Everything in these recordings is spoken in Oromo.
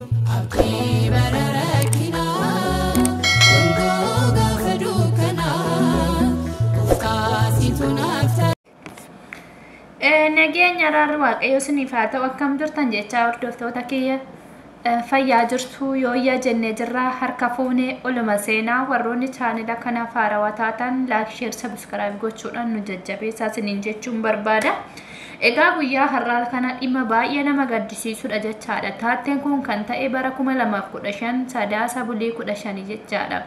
Abdii bara rakkinaa, dungoo gaafa dukkanaa, gooftaa situ naaf ta'a. Eh, Nageenya araarri waaqayyo isiniif haa ta'u akkam jirtan jechaa hordoftoota kiyya eh, fayyaa jirtu yooyyaa jennee jirra harka fuunee oluma seenaa warroonni chaanila kanaaf haarawaa taatan laak sheer sabiskiraayib gochuudhaan nu jajjabeessaa isiniin jechuun barbaada. Egaa guyyaa har'aa kana dhimma baay'ee nama gaddisiisudha jechaadha. Taatteen kun kan ta'e bara 2015 Sadaasa bulii 15 jechaadha.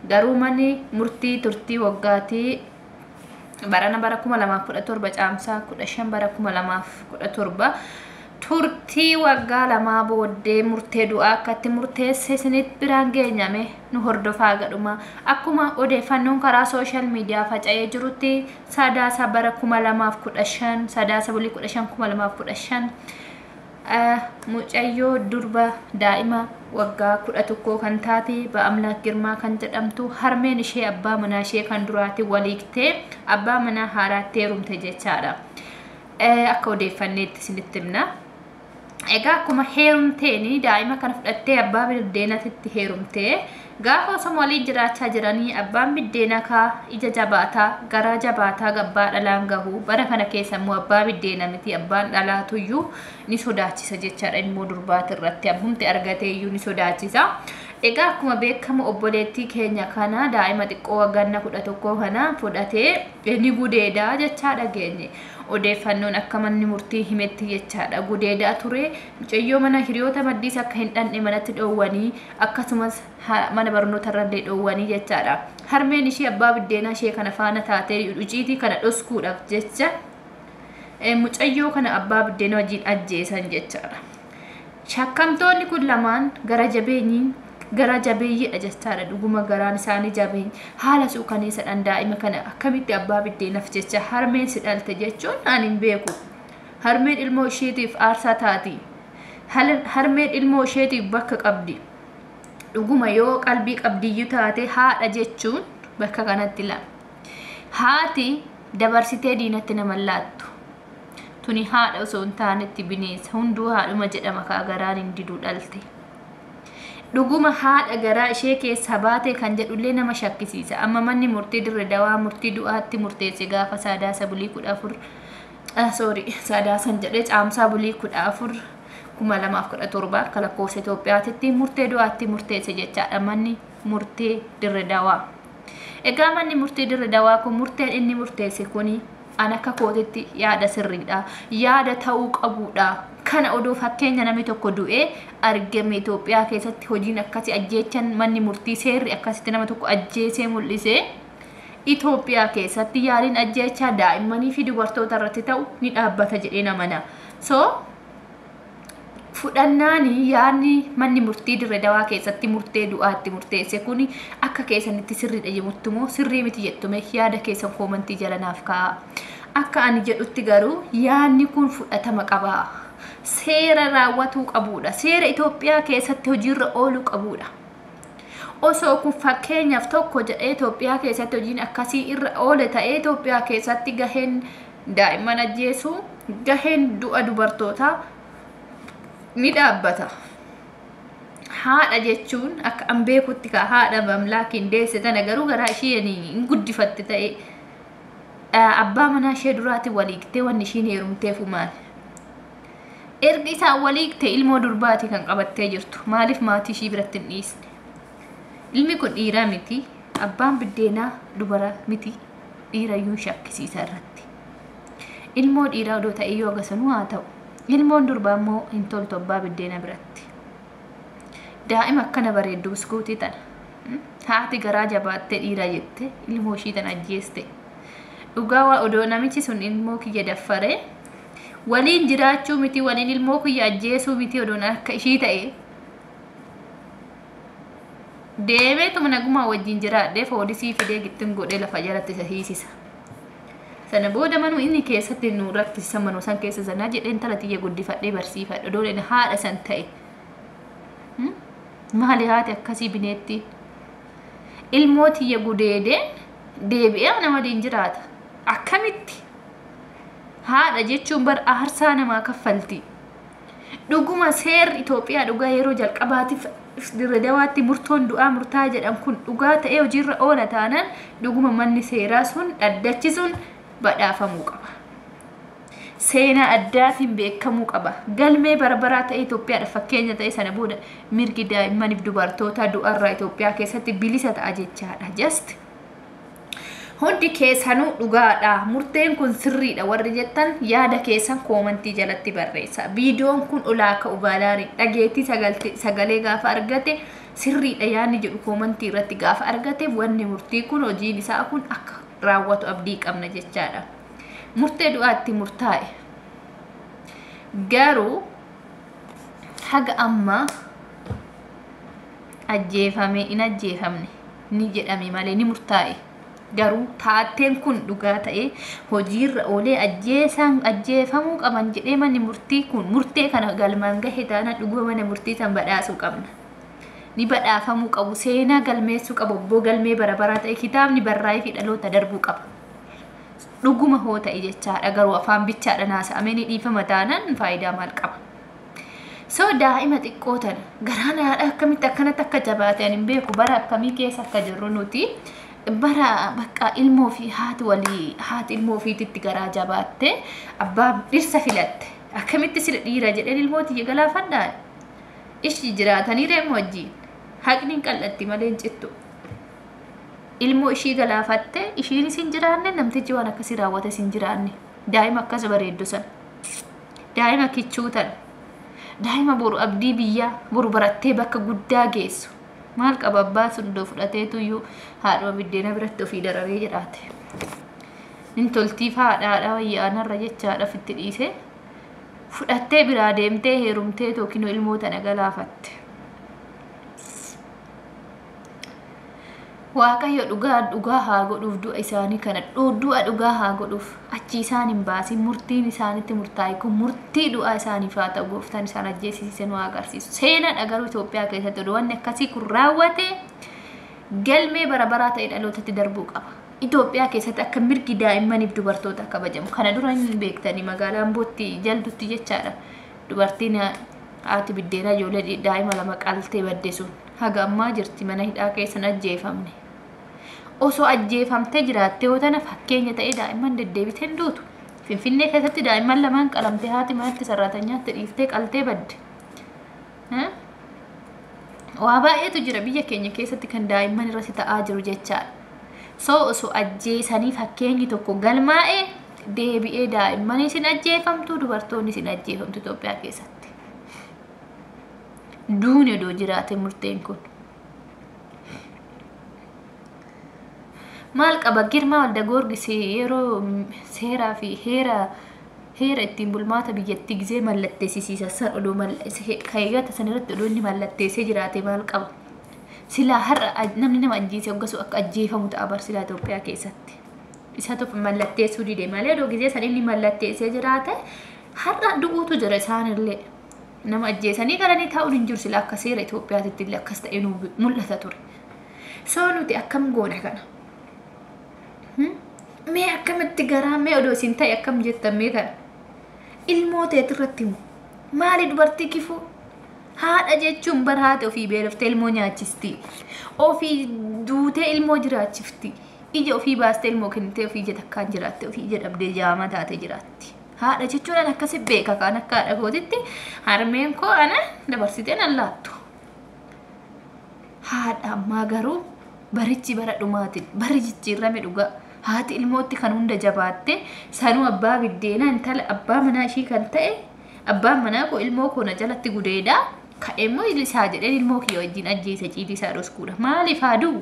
Garuu manni murtii turtii waggaatii barana bara 2017 caamsaa 15 bara 2017 turtii waggaa lamaa booddee murtee du'aa akkatti murteesse isinitti biraan geenyame nu hordofaa gadhuma akkuma odeeffannoon karaa sooshaal miidiyaa faca'ee jirutti Sadaasa bara 2015 Sadaasa bulii 15 2015 eh, mucayyoo durba daa'ima waggaa 11 kan taate Ba'amlaak Girmaa kan jedhamtu harmeen ishee abbaa manaa ishee kan duraati waliigtee abbaa manaa haaraatti heerumte jechaadha. Eh, Akka odeeffanneetti isinitti himna. Egaa akkuma heerumteen daa'ima kana fudhattee abbaa biddeenatitti heerumtee gaafa osoma waliin jiraachaa jiranii abbaan biddeenaa kaa ija jabaataa garaa jabaataa gabbaa dhalaan gahu bara kana keessa immoo abbaa biddeena miti abbaan dhalaatu iyyuu ni sodaachisa jechaadha ilmoo durbaati irratti abbumti argatee iyyuu ni sodaachisa. Egaa akkuma beekamu obboleettii keenya kana daa'ima xiqqoo wagganna kudha tokkoo kana fudhatee ni gudeedaa jechaa dhageenye. Odeeffannoon akka manni murtii himetti jechaadha gudeedaa ture. Mucayyoo mana hiriyoota maddiis akka hin dhanne manatti dhoowwanii akkasumas mana barnootarrallee dhoowwanii jechaadha. Harmeen ishee abbaa biddeenaa ishee kana faana taatee uciitii kana dhoskuudhaaf jecha mucayyoo kana abbaa biddeenaa wajjin ajjeesan jechaadha. Shakkamtoonni kun lamaan gara jabeenyiin garaa jabeeyyiidha jechaadha dhuguma garaan isaanii jabeenya haala suukaneessadhaan daa'ima kana akkamitti abbaa biddeenaf jecha harmeen si dhalte jechuun ani hin beeku harmeen ilmoo isheetiif aarsaa taati harmeen ilmoo isheetiif bakka qabdi dhuguma yoo qalbii qabdiyyuu taate haadha jechuun bakka kanatti laa haati dabarsitee diinatti nama laattu Tuni haadha osoo hin taanetti bineensa hunduu haadhuma jedhama kaa garaan hin didu dhalte. Dhuguma haadha garaa ishee keessaa baatee kan jedhullee nama shakkisiisa. Amma manni murtii dirre dawaa murtii du'aatti murteesse gaafa saadaasa bulii kudha afur sorry saadaasan jedhee caamsaa bulii kudha afur kuma lamaaf kudha torba akka lakkoofsa Itoophiyaatitti murtee du'aatti murteesse jechaadha manni murtee dirre dawaa. Egaa manni murtii dirri dawaa kun murteen inni murteesse kuni an akka kootitti yaada sirriidha. Yaada ta'uu qabuudha. Kana odoo fakkeenya namni tokko du'ee argame Itoophiyaa keessatti hojiin akkasii ajjeechan manni murtii seerri akkasitti nama tokko ajjeesee mul'ise Itoophiyaa keessatti yaaliin ajjeechaa daa'immanii fi dubartoota irratti ta'u ni dhaabbata jedhee namana. So fudhannaan yaadni manni murtii dirre dawaa keessatti murtee du'aa itti murteesse kun akka keessanitti sirriidha jettu moo sirrii miti jettume yaada keessan koomantii jalanaaf kaa'aa. Akka ani jedhutti garuu yaadni kun fudhatama qaba. Seera raawwatuu qabuudha. Seera Itoophiyaa keessatti hojiirra ooluu qabuudha. Osoo kun fakkeenyaaf tokko jedhee Itoophiyaa keessatti hojiin akkasii irra oole ta'ee Itoophiyaa keessatti gaheen Daa'imman ajjeesuu, gaheen du'a dubartootaa ni dhaabbata. Haadha jechuun akka an beekutti kaa haadha mamlaakiin deesse tana garuu garaa isheen hin guddifatte ta'e abbaa manaa ishee duraati waliiktee wanni ishiin heerumteefu maal. Ergi isaan waliikte ilmoo durbaati kan qabattee jirtu maaliif maatii ishii biratti hin dhiisne. Ilmi kun dhiiraa miti abbaan biddeenaa dubara miti. dhiirayyuu shakkisiisa irratti. Ilmoo dhiiraa odoo ta'eyyuu haga sanuu haa ta'u. Ilmoon durbaa immoo hin toltu abbaa biddeena biratti. Daa'ima akkana bareeddu buskuutii tana. Hmm? Haati garaa jabaattee dhiira jette ilmoo ishii tana ajjeeste. Dhugaa waa odoo namichi sun ilmoo kiyya daffaree waliin jiraachuu miti waliin ilmoo kiyya ajjeesuu miti odoon akka ishii ta'e deemeetuma nagumaa wajjin jiraadhee foolisii fidee gittin godhee lafa jalatti isa hiisisa sana booda manuu inni keessatti nu rakkisa manuu san keessa sanaa jedhee intala tiyya guddifadhee barsiifadha dooleen haadha san ta'e maali haati akkasii bineetti ilmoo tiyya gudeedee deebi'ee ana waliin jiraata akkamitti haadha jechuun bar aarsaa namaa kaffalti Dhuguma seerri Itoophiyaa dhugaa yeroo jalqabaatiif Dirredawaatti murtoon du'aa murtaa jedhan kun dhugaa ta'ee hojiirra oola taanaan dhuguma manni seeraa sun dhaddachi sun badhaafamuu qaba. Seenaa addaatiin beekamuu qaba. Galmee barbaraa ta'ee Itoophiyaadhaaf fakkeenya ta'ee sana booda mirgi daa'immaniif dubartootaa du'arraa Itoophiyaa keessatti bilisa ta'a jechaadha. Just Hundi keessanuu dhugaadha murteen kun sirriidha warri jettan yaada keessan koomantii jalatti barreessa. Viidiyoon kun olaa ka'u baanaan dhageettii sagalee gaafa argate sirriidha yaadni jedhu koomantii irratti gaafa argateef wanni murtii kun hojiin isaa kun akka raawwatu abdii qabna jechaadha. Murtee du'aatti murtaa'e. Garuu haga ammaa ajjeefamee hin ajjeefamne. ni jedhame malee ni murtaa'e. Garuu taateen kun dhugaa ta'ee hojiirra oolee ajjeesaan ajjeefamuu qaban jedhee manni murtii kun murtee kana galmaan gahe taana dhuguma mana murtii san badhaasuu qabna. Ni badhaafamuu qabu seenaa galmeessuu qabu abboo galmee bara baraa ta'e kitaabni barraa'ee fi dhaloota darbuu qaba. Dhuguma hoo ta'e jechaadha garuu afaan bichaadha naasa'amee ni dhiifama taanaan faayidaa maal qaba? so daa'ima xiqqoo tana garaan haadha akkamitti akkanatti akka jabaate ani hin beeku bara akkamii keessa akka jirru nuti bara bakka ilmoo fi haati walii haati ilmoo ofiititti garaa jabaatte abbaa dhirsa filatte akkamitti sila dhiira jedheen ilmoo tiyya galaafadhaan ishii jiraatanii reemu wajjiin haqni hin qal'atti malee hin cittu ilmoo ishii galaafatte ishiinis hin jiraanne namtichi waan akkasii raawwates hin jiraanne daa'ima akkas bareeddu sana Daa'ima kichuu tana. Daa'ima boru abdii biyyaa boru barattee bakka guddaa geessu. Maal qaba abbaan sun iddoo fudhateetu iyyuu haadhuma biddeena biratti ofii dararee jedhaate. Hin toltiif haadha haadha wayya aanarra jechaadhaaf itti dhiisee fudhattee biraa deemtee heerumtee yookiin ilmoo tana galaafatte. waaqayyo dhugaa dhugaa haa godhuuf du'a isaanii kana dhu- du'a dhugaa haa godhuuf achi isaan hin baasin murtiin isaanitti murtaa'e kun murtii du'aa isaaniif haa ta'u gooftaan isaan ajjeesisiise nu haa agarsiisu seenaadha garuu Itoophiyaa keessatti odoo wanni akkasii kun raawwate galmee bara baraa ta'e dhalootatti darbuu qaba. Itoophiyaa keessatti akka mirgi daa'immaniif dubartootaa kabajamu kana dura hin beektanii magaalaa Ambootti jaldutti jechaadha. Dubartiin haati biddeenaa ijoollee daa'ima lama qaltee badde sun haga ammaa jirti mana hidhaa keessan ajjeefamne. Osoo ajjeefamtee jiraattee yoo tana fakkeenya ta'ee daa'imman deddeebitee hin duutu. Finfinnee keessatti daa'imman lamaan qalamtee haati manatti sarraatanyaatti dhiiftee qaltee badde. Waa baay'eetu jira biyya keenya keessatti kan daa'imman irratti ta'aa jiru jechaadha. So osoo ajjeesanii fakkeenyi tokko galmaa'ee deebi'ee daa'immanis hin ajjeefamtu dubartoonnis hin ajjeefamtu Itoophiyaa keessatti. Duuni odoo jiraate murteen kun. Maal qaba Girmaa Walda Goorgis yeroo seeraa fi heera heera ittiin bulmaata biyyattii gisee mallatteessisiisa san odoo kayyata san irratti odoo inni mallatteessee jiraate maal qaba. Silaa har'a namni nama ajjeese hoggasuu akka ajjeefamu ta'a barsilaa Itoophiyaa keessatti. isatu mallatteessuu dide malee doo gizee san inni mallatteessee jiraate har'a du'uutu jira isaanillee nama ajjeesanii galanii taa'uun hin jiru sila akka seera Itoophiyaatitti illee akkas ta'e nu mul'ata ture. Soo nuti akkam goona kana? Mee akkamitti garaa mee odoo isin ta'e akkam jettan mee kana? Ilmoo teeti irratti moo? Maali dubartii kifuu? Haadha jechuun bara haati ofii beeloftee ilmoo nyaachistii. Ofii duutee ilmoo jiraachiftii. Ija ofii baastee ilmoo kennitee ofii ija takkaan jiraatte ofii ija dhabdee jaama taate jiraatti. Haadha jechuun an akkasi beeka kaan akka haadha kootitti harmeen koo ana dabarsiteen an laattu. Haadha ammaa garuu barichi bara dhumaatiin barri jijjiirrame dhugaa haati ilmootti kan hunda jabaatte sanuu abbaa biddeenaa intala abbaa manaa ishii kan ta'e abbaan manaa koo ilmoo koo na jalatti gudeedaa ka'eemmoo isaa jedheen ilmoo kiyya wajjin ajjeese ciitii isaa dhoskuudha maaliif haa du'u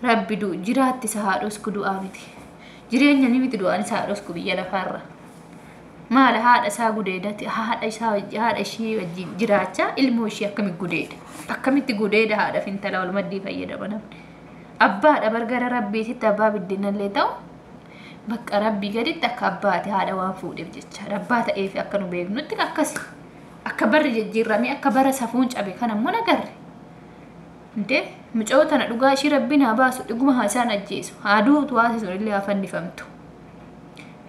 Rabbi du, jiraatti isa haa dhosku du'aa miti. Jireenya ni miti du'aan isa haa dhosku biyya lafaarra. Maala haadha isaa gudeedati haadha isaa haadha ishii wajjin jiraachaa ilmoo ishii akkamitti gudeeda. Akkamitti gudeeda haadha fintala wal maddii fayyadama namni. Abbaadha bargara rabbiititti abbaa biddinallee ta'u bakka rabbii gaditti akka abbaati haadha waan fuudheef jechaadha. Abbaa ta'eefi akka nu beeknutti akkasi. Akka barri jijjiirramee akka bara safuun cabe kana immoo nagarre. Intee mucayoo tana dhugaa ishii rabbiin haa baasu dhiguma haa isaan ajjeesu haa duutu haati sun illee haa fannifamtu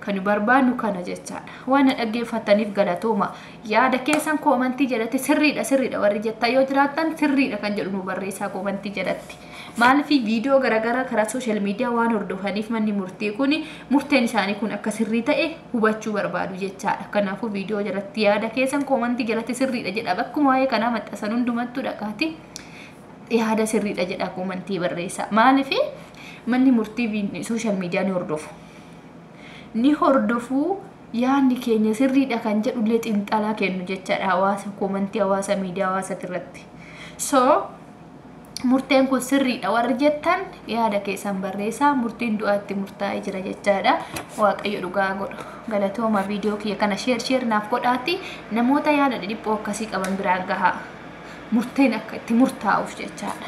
kan barbaannu kana jechaadha waan na dhaggeeffattaniif galatooma yaada keessan koomantii jalatti sirriidha sirriidha warri jettan yoo jiraattan sirriidha kan jedhu nu barreessaa koomantii jalatti maaliif viidiyoo garaagaraa karaa sooshaal miidiyaa waan hordofaniif manni murtii kun murteen isaanii kun akka sirrii ta'e hubachuu barbaadu jechaadha kanaafuu viidiyoo jalatti yaada keessan koomantii jalatti sirriidha jedha bakkuma waa'ee kanaa maxxasan hundumattuu dhaqaati yaada sirriidha jedha komantii barreessaa. Maaliif manni murtii sooshaal miidiyaa ni hordofu. Ni hordofu yaadni keenya sirriidha kan jedhullee xiinxalaa kennu jechaadha hawaasa komantii hawaasa miidiyaa hawaasati irratti. So murteen kun sirriidha warri jettan yaada keessan barreessaa murtiin du'aatti murtaa'ee jira jechaadha waaqayyo dhugaa godha. Galatooma video kiyya kana share share naaf godhaatti namoota yaada dhidhiphoo akkasii qaban biraan gahaa. Murteen akka itti murtaa'uuf jechaadha.